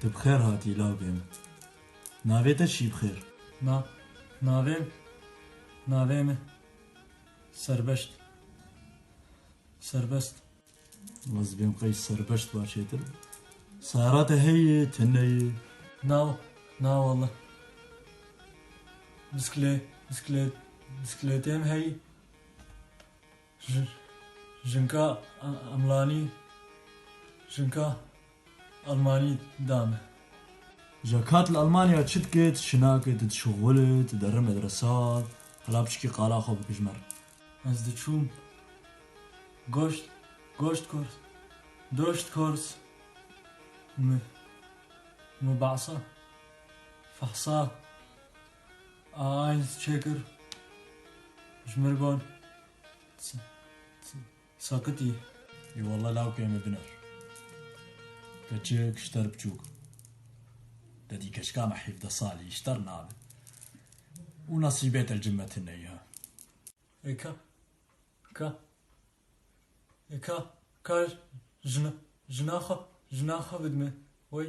Tu bi xêr hatî lawikê min. Navê te çi bi xêr? Na, navê min, navê min Serbeşt, Serbest. Waz bi bêm qey Serbeşt ba çêtir bi. Sara te heye, tune ye? Na, na walla. Biskle, biskle, biskletê min heye, Jinka Emlanî jinka Elmanî dame. Ja ka tu li Elmanya çi dikê, tu şinakê, tu dişixulî, tu derî medresa, hela piçikî qala xwe bikijmer. Ez diçûm goşt goşt kors doşt kors mubasa fehsa. Eins çêkir ji mir got sakit î. Î walla lawkê min diner. Keçik ji te re biçûk in. Te dî keçika me hîvdeh salî ji te re nabe. Û nesîbê te li cem me tune ye. Ê ka ka ê ka ka jina jina xwe jina xwe bidime wey.